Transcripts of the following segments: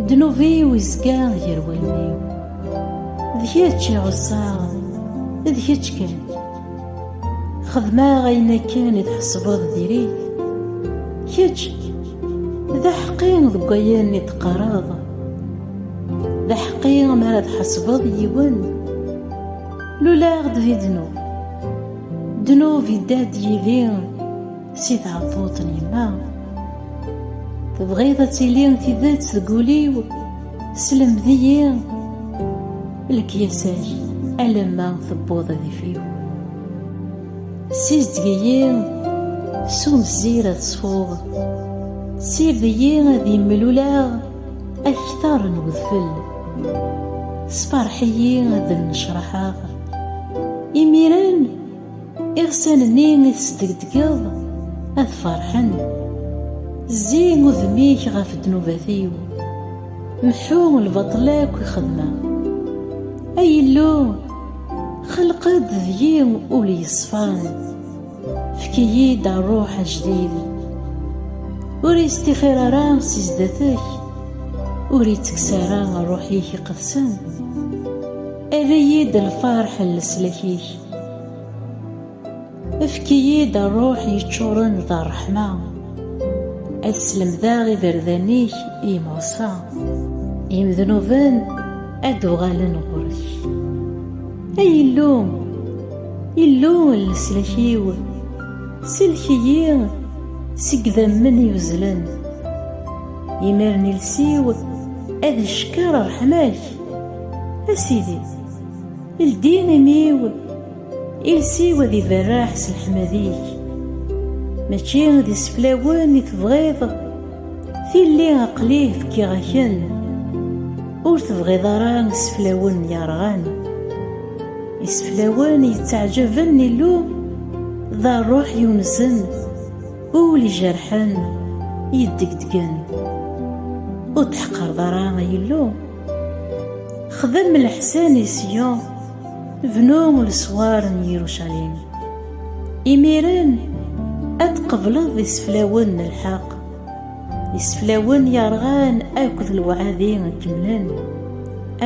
Ddnub-iw izga gar wallen-iw, d kečč i ɛussaɣ, d kečč kan. Xedmeɣ ayen akken i tḥesbeḍ diri-t, kečč d aḥeqqi deg wayen i d-teqqareḍ, d aḥeqqi mi ara tḥesbeḍ yiwen. Luleɣ-d di ddnub, ddnub idda-d yid-i. Si tɛebbuḍt n yemma Tebɣiḍ ad tili tidet deg wul-iw Slemd-iyi lekyasa-k Alamma tewweḍ ad if-iw Sizdeg-iyi s umezzir ad ṣfuɣ Sired-iyi ad imluleɣ Akter n wedfel Sferḥ-iyi ad nnecraḥeɣ Imiren Iɣsan-nni i tesdegdegeḍ ad ferḥen. Zzi udem-ik ɣef ddnubat-iw, mḥu lbaṭel akk i xedmeɣ. Ay Illu, xelq-d deg-i ul yeṣfan, efk-iyi-d ṛṛuḥ ajdid. Ur istixir ara si zdat-k, ur ittekkes ara ṛṛuḥ-ik iqedsen. Err-iyi-d lferḥ n leslak-ik. Efk-iyi-d rruḥ yeččuren d ṛṛeḥma, ad slemdeɣ iberdan-ik i yimuṣa, imednuben ad d-uɣalen ɣur-k. Ay Illu, Illu n leslak-iw, sellek-iyi seg idammen yuzlen, imiren iles-iw ad icekker ṛṛeḥma-k, a Sidi. Ldin imi-w, iles-iw ad iberreḥ s leḥmad-ik. Mačči d iseflawen i tebɣiḍ, tilli aqli fkiɣ-ak-en. Ur tebɣiḍ ara iseflawen yerɣan. Iseflawen yettaɛǧaben Illu, d rruḥ yunzen, ul ijerḥen, yeddegdgen. Ur d-tḥeqqreḍ ara ay Illu. Xdem leḥsan i Siyun, bnu leswar n Yirucalim. Imiren ad tqebleḍ iseflawen n lḥeqq, iseflawen yerɣan akked lewɛadi kemmlen,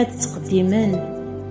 ad ttqeddimen